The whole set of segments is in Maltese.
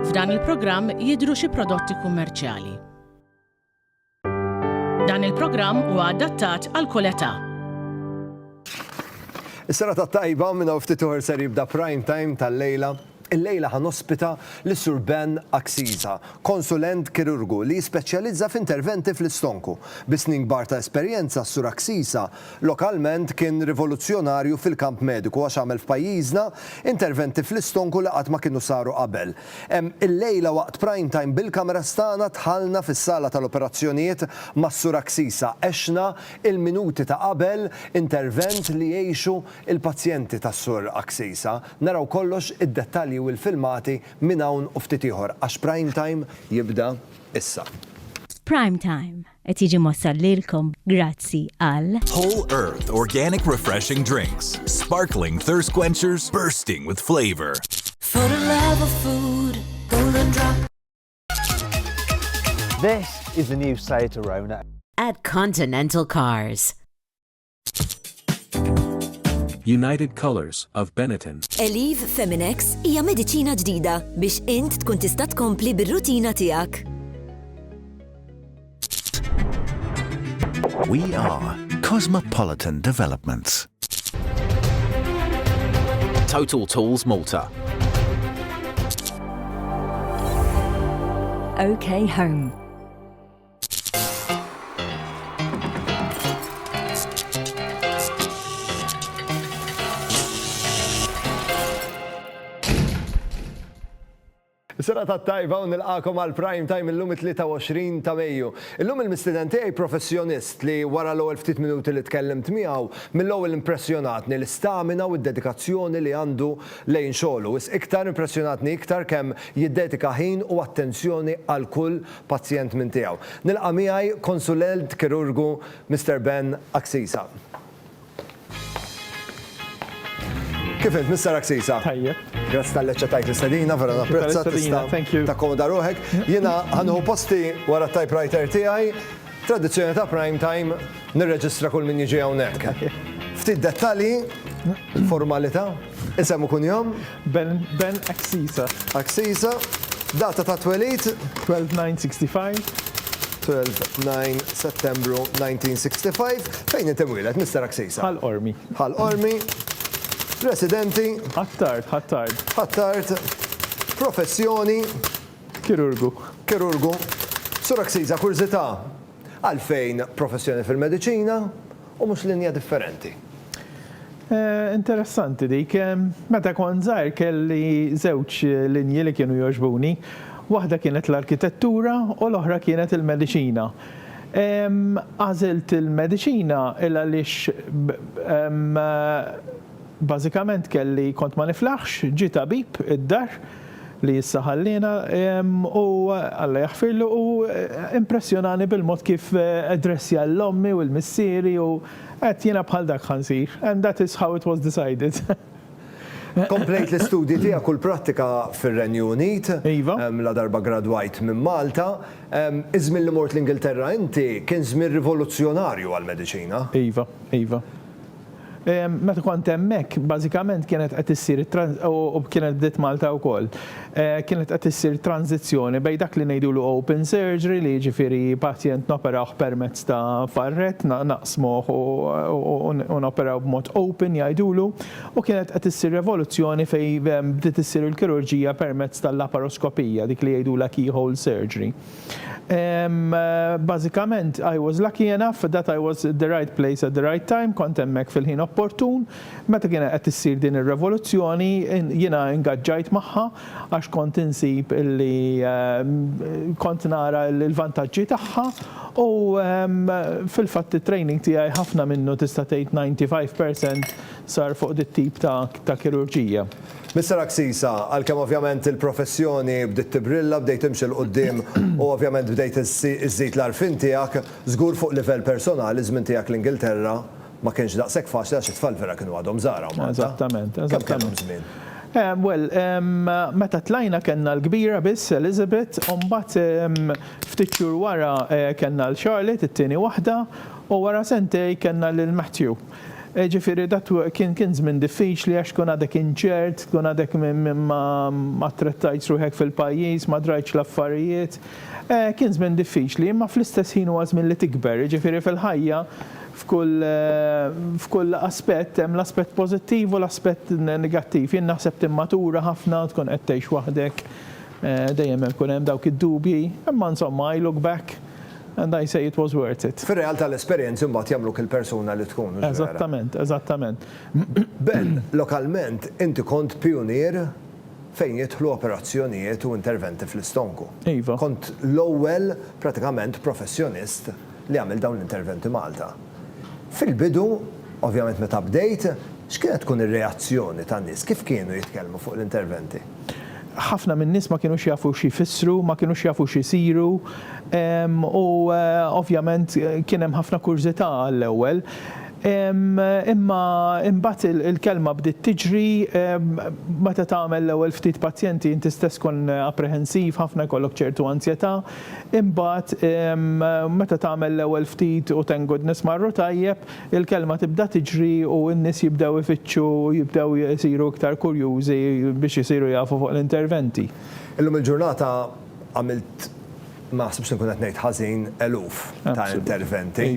F'dan il-programm jidhru xi prodotti kummerċjali. Dan il-programm huwa adattat għal kull età. Is-sena tat-tajba minn hawn ftit uħor ser jibda prime time tal-lejla Illejla ħa nospita lis-Sur Ben Axiza, konsulent kirurgu li jispeċjalizza f'interventi fl-istonku. Bi snin kbar ta' esperjenza, s-Sur Axiza lokalment kien rivoluzzjonarju fil-kamp mediku għax għamel f'pajjiżna interventi fl-istonku li qatt ma kienu saru qabel. Illejla waqt Prime Time bil-cameras tagħna dħalna fis-sala tal-operazzjonijiet mas-Sur Axiza. Għexna il-minuti ta' qabel intervent li jgħixu il-pazjenti tas-Sur Axiza. Naraw kollox, id-dettalji u l-filmati minn hawn u ftit ieħor għax Prime Time jibda issa. Prime Time qed jiġi mwassal lilkom grazzi għal. Whole Earth Organic Refreshing Drinks, Sparkling Thirst Quenchers Bursting with Flavor. For the love of food, Golden Drop. This is the new Seat Arona. At Continental Cars. United Colors of Benetton. Eliv Feminex hija mediċina ġdida biex int tkun tista' tkompli bir-rutina tiegħek. We are Cosmopolitan Developments. Total Tools Malta. OK Home. Sena ta' tajba u nilqakom għal prime time illum 23 ta' Mejju. Illum il-mistiden tiegħi professjonist li wara l-ewwel ftit minuti li tkellimt miegħu mill-ewwel impressjonatni l-istamina u d-dedikazzjoni li għandu lejn xogħlu. Is iktar impressjonatni iktar kemm jiddedika ħin u attenzjoni għal kull pazjent minn tiegħu. Nilqa' miegħi Konsulent Kirurgu Mister Ben Axisa. Kif int Mister Axisa? Tajjeb. Grazzi talli aċċettajt l-istedina, vera napprezza, tista' takkomoda ruħek. Jiena ħa nieħu posti wara t-typewriter tiegħi. Tradizzjoni ta' Prime Time, nirreġistra kull min jiġi hawnhekk. Ftit dettalji, formalita', isem u kunjom. Ben, Ben Axisa. Axisa, data ta' twelid? 12/9/65. 12/9 Settembru 1965. Fejn inti mwieled, Mister Axisa? Ħal Qormi. Ħal Qormi. Residenti? Ħ'Attard, Ħ'Attard. Ħ'Attard. Professjoni? Kirurgu. Kirurgu. Sur Axiza, kurżità, għalfejn professjoni fil-mediċina u mhux linja differenti? Interessanti dik. Meta kont żgħir kelli żewġ linji li kienu jogħġbuni. Waħda kienet l-arkitettura u l-oħra kienet il-mediċina. Għażilt il-mediċina il-għaliex bażikament kelli kont ma niflaħx, ġie tabib id-dar, li issa ħalliena u Alla jaħfirlu u impressjonani bil-mod kif addressja lil ommi u lil missieri u għedt jiena bħal dak ħa nsir and that is how it was decided. Komplejt l-istudji tiegħek u l-prattika fir-Renju Unit. Iva. Ladarba gradwajt minn Malta. Iż-żmien li mort l-Ingilterra inti kien żmien rivoluzzjonarju għall-mediċina. Iva, iva. Meta kont hemmhekk, bażikament kienet qed issir u kienet bdiet Malta wkoll, kienet qed issir tranżizzjoni bejn dak li ngħidulu open surgery li jiġifieri pazjent noperawh permezz ta' farrett, naqsmuh u noperaw b'mod open jgħidulu, u kienet qed issir revoluzzjoni fejn bdiet issir il-kirurġija permezz tal-laparoskopija, dik li jgħidulha keyhole surgery. Ehm, bażikament, I was lucky enough that I was at the right place at the right time, kont hemmhekk fil-ħin opportun. Meta kienet qed issir din ir-revoluzzjoni, jiena ingaġġajt magħha għax kont insib li ehm, kont nara l-vantaġġi tagħha u ehm, fil-fatt it-training tiegħi ħafna minnu tista' tgħid 95% sar fuq dit tip ta' kirurġija. Mister Axisa, għalkemm ovvjament il-professjoni bdiet tibrilla, bdejt timxi 'l quddiem u ovvjament bdejt iżżid l-għarfien tiegħek, żgur fuq livell personali ż-żmien tiegħek l-Ingilterra ma kienx daqshekk faċli għax it-tfal vera kienu għadhom żgħar hawn Malta. Eżattament, eżattament. Kemm kellhom żmien? Eh, well, meta tlajna kellna l-kbira biss, Elizabeth, u mbagħad ftit xhur wara kellna 'l Charlotte, it-tieni waħda, u wara sentejn kellna lil Matthew. Jiġifieri dak kien kien żmien diffiċli għax tkun għadek inċert, tkun għadek ma attrettajtx ruħek fil-pajjiż, ma drajtx l-affarijiet. Kien żmien diffiċli, imma fl-istess ħin huwa żmien li tikber, jiġifieri fil-ħajja f'kull f'kull aspett hemm l-aspett pożittiv u l-aspett negattiv. Jien naħseb timmatura ħafna, tkun qed tgħix waħdek, dejjem ikun hemm dawk id-dubji, imma insomma I look back, And I say it was worth it. Fir-realtà l-esperjenzi mbagħad jagħmluk il-persuna li tkun, mhux vera? Eżattament, eżattament. Ben, lokalment inti kont pijunier fejn jidħlu operazzjonijiet u interventi fl-istonku. Iva. Kont l-ewwel pratikament professjonist li għamel dawn l-interventi Malta. Fil-bidu, ovvjament meta bdejt, x'kienet tkun ir-reazzjoni tan-nies? Kif kienu jitkellmu fuq l-interventi? ħafna min-nies ma kinux jafu xi jfissru, ma kinux jafu xi jsiru u ovvjament kien hemm ħafna kurżità għall-ewwel. Imma imbagħad il-kelma bdiet tiġri, meta tagħmel l-ewwel ftit pazjenti inti stess tkun apprehensiv ħafna jkollok ċertu anzjetà, imbagħad meta tagħmel l-ewwel ftit u thank goodness marru tajjeb, Il-kelma tibda tiġri u n-nies jibdew ifittxu, jibdew isiru iktar kurjużi biex isiru jafu fuq l-interventi. Illum il-ġurnata għamilt, ma naħsibx li nkun qed ngħid ħażin, eluf ta' interventi,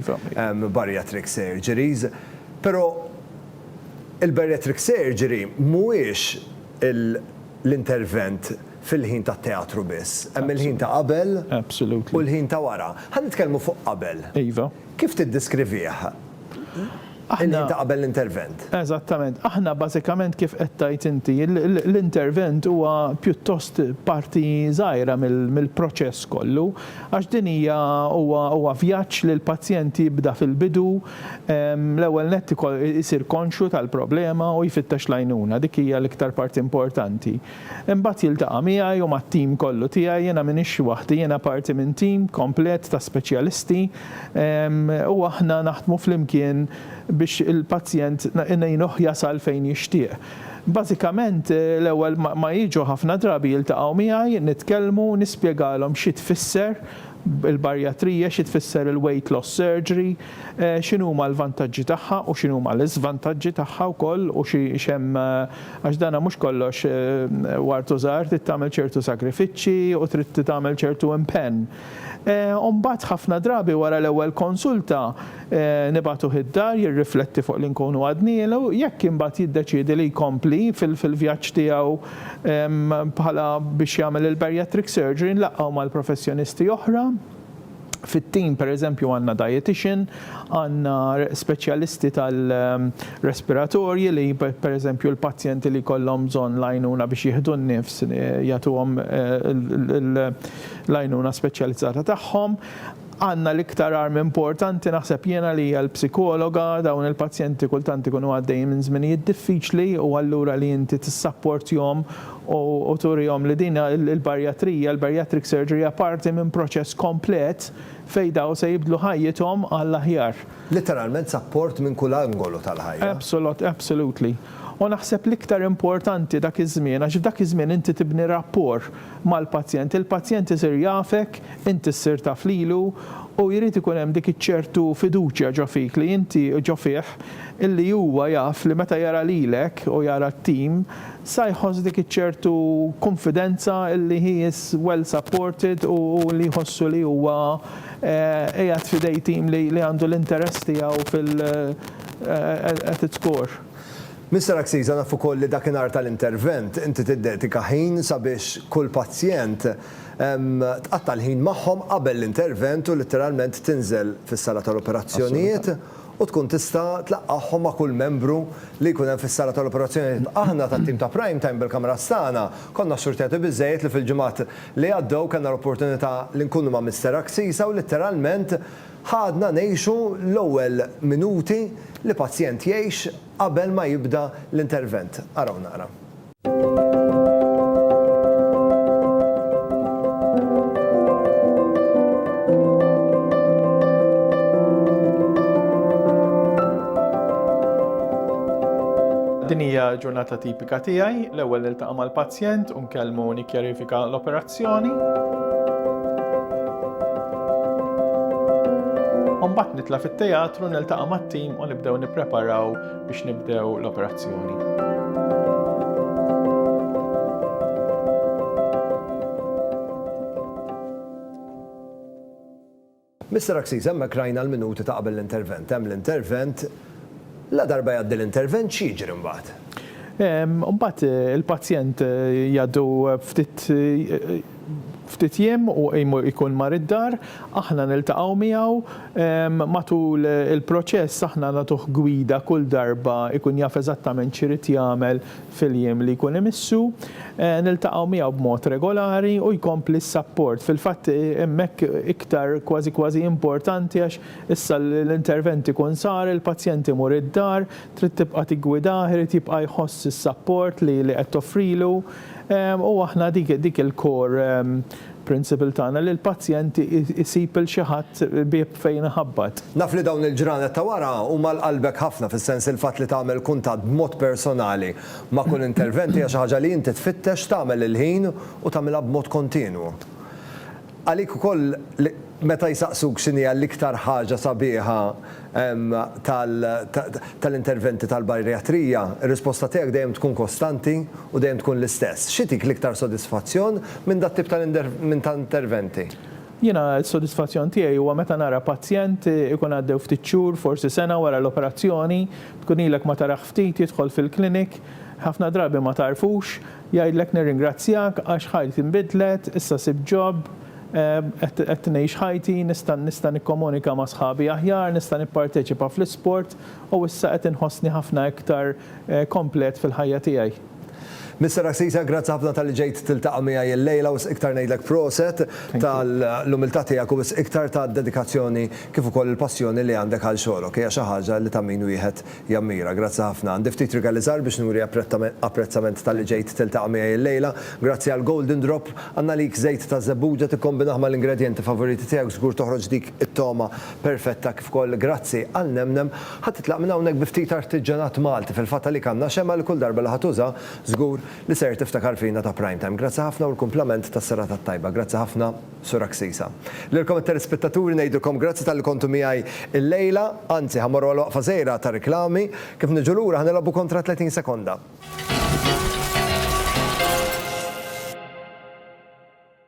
bariatric surgeries. Però il-bariatric surgery mhuwiex l-intervent fil-ħin tat-teatru biss. Hemm il-ħin ta' qabel u l-ħin ta' wara. Ħa nitkellmu fuq qabel. Kif tiddiskrivih inti qabel l-intervent? Eżattament. Aħna bażikament kif qed tgħid inti, l-intervent huwa pjuttost parti żgħira mill-proċess kollu għax din hija huwa vjaġġ li l-pazjent jibda fil-bidu, l-ewwel nett isir konxju tal-problema u jfittex l-għajnuna. Dik hija l-iktar parti importanti. Imbagħad jiltaqa' miegħi u mat-tim kollu tiegħi, jiena m'iniex waħdi, jiena parti minn tim komplet ta' speċjalisti, u aħna naħdmu flimkien biex il-pazjent ngħinuh jasal fejn jixtieq. Bażikament, l-ewwel ma jiġu ħafna drabi jiltaqgħu miegħi, nitkellmu, nispjegalhom xi tfisser il-barjatrija, xi tfisser il-weight loss surgery, x'inhuma l-vantaġġi tagħha u x'inhuma l-iżvantaġġi tagħha wkoll u x'hemm Għax dan mhux kollox ward u żgħar, trid tagħmel ċertu sagrifiċċji u trid tagħmel ċertu impenn. U mbagħad ħafna drabi wara l-ewwel konsulta nibagħtuh id-dar jirrifletti fuq li nkunu għadnielu, jekk imbagħad jiddeċiedi li jkompli fil-vjaġġ tiegħu bħala biex jagħmel il-bariatric surgery nlaqgħu mal-professjonisti oħra. Fit-tim pereżempju għandna dietician, għandna speċjalisti tal-respiratorji li pereżempju l-pazjenti li jkollhom bżonn l-għajnuna biex jieħdu n-nifs jagħtuhom l-għajnuna speċjalizzata tagħhom. Għandna l-iktar arm importanti naħseb jiena li hija l-psikologa, dawn il-pazjenti kultant ikunu għaddejjin minn żminijiet diffiċli u allura li inti tissapportjhom u turihom li din il-barjatrija, il-bariatric surgery, hija parti minn proċess komplet fejn dawn se jibdlu ħajjithom għall-aħjar. Litteralment sapport minn kull angolu tal-ħajja. Absolut, absolutely. U naħseb l-iktar importanti dak iż-żmien, għax f'dak iż-żmien inti tibni rapport mal-pazjent, il-pazjent isir jafek, inti ssir taf lilu u jrid ikun hemm dik iċ-ċertu fiduċja ġo fik li inti, ġo fih, illi huwa jaf li meta jara lilek u jara t-tim, sa jħoss dik iċ-ċertu kunfidenza li he is well supported u li jħossu li huwa qiegħed f'idej tim li għandu l-interess tiegħu fil at its core. Mister Axiza naf ukoll li dakinhar tal-intervent inti tiddedika ħin sabiex kull pazjent tqatta' l-ħin magħhom qabel l-intervent u litteralment tinżel fis-sala tal-operazzjonijiet u tkun tista' tlaqqagħhom ma' kull membru li jkun hemm fis-sala tal-operazzjonijiet. Aħna tat-tim ta' Prime Time bil-kameras tagħna konna xxurtjati biżżejjed li fil-ġimgħat li għaddew kellna l-opportunità li nkunu ma' Mister Axisa u litteralment ħadna ngħixu l-ewwel minuti li pazjent jgħix qabel ma jibda l-intervent. Araw naqra. Din hija ġurnata tipika tiegħi, l-ewwel niltaqa' mal-pazjent u nkellmu nikkjarifika l-operazzjoni. Mbagħad nitla' fit-teatru niltaqa' mat-tim u nibdew nippreparaw biex nibdew l-operazzjoni. Mister Aksiz, hemmhekk rajna l-minuti ta' qabel l-intervent. Hemm l-intervent, la darba jgħaddi l-intervent x'jiġri mbagħad? Mbagħad il-pazjent jgħaddu ftit ftit jiem u jkun mar id-dar, aħna niltaqgħu miegħu matul il-proċess, aħna nagħtuh gwida kull darba jkun jaf eżattament x'irid jagħmel fil-jiem li jkun imissu. Niltaqgħu miegħu b'mod regolari u jkompli s-sapport. Fil-fatt hemmhekk iktar kważi kważi importanti għax issa l-intervent ikun sar, il-pazjent imur id-dar, trid tibqa' tiggwidah, irid jibqa' jħoss is-sapport li qed toffrilu. U aħna dik il-core principle tagħna li l-pazjent isib 'il xi ħadd bieb fejn iħabbat. Naf li dawn il-ġranet ta' wara huma għal qalbek ħafna fis-sens li l-fatt li tagħmel kuntatt b'mod personali ma' kull intervent hija xi ħaġa li inti tfittex tagħmel il-ħin u tagħmilha b'mod kontinwu. Għalik ukoll meta jsaqsuk x'inhija l-iktar ħaġa sabiħa tal-interventi tal-bajrijatrija, ir-risposta tiegħek dejjem tkun kostanti u dejjem tkun l-istess. X'igħtik l-iktar sodisfazzjon minn dat-tip ta' interventi? Jiena s-sodisfazzjon tiegħi huwa meta nara pazjent ikun għaddew ftit xhur, forsi sena wara l-operazzjoni, tkun ilek ma tarah ftit jidħol fil-clinic, ħafna drabi ma tagħrfux, Jgħidlek nirringrazzjak għax ħajti nbidlet, issa sibt job, qed qed ngħix ħajti, nista' nista' nikkomunika ma' sħabi aħjar, nista' nipparteċipa fl-isport u issa qed inħossni ħafna iktar komplet fil-ħajja tiegħi. Mister Assisa, grazzi ħafna talli ġejt tiltaqa' miegħi illejla u wisq iktar ngħidlek proset tal-umiltà tiegħek u wisq iktar tad-dedikazzjoni kif ukoll il-passjoni li għandek għal xogħlok. Hija xi ħaġa li ta' min wieħed Jammira, Grazzi ħafna. Għandi ftit rigali żgħar biex nuri apprezzament talli ġejt tiltaqa' miegħi illejla. Grazzi għal Golden Drop. Għandna għalik żejt ta' żebbuġa, tikkombinah mal-ingredjenti favoriti tiegħek żgur toħroġ dik it-togħma perfetta kif ukoll grazzi għal nemnem. Ħa titlaq minn hawnhekk bi ftit artiġġanat Malti, fil-fatt għalik għandna xemgħa li kull darba li ħa tuża żgur li ser tiftakar fina ta' Primetime. Grazzi ħafna u l-kumplament tas-serata t-tajba. Grazzi ħafna. Sur Axisa. Lilkom it-telespettaturi ngħidilkom grazzi talli kontu miegħi llejla. Anzi, ħa mmorru għal waqfa żgħira ta' riklami. Kif niġu lura ħa nilgħobu kontra 30 sekonda.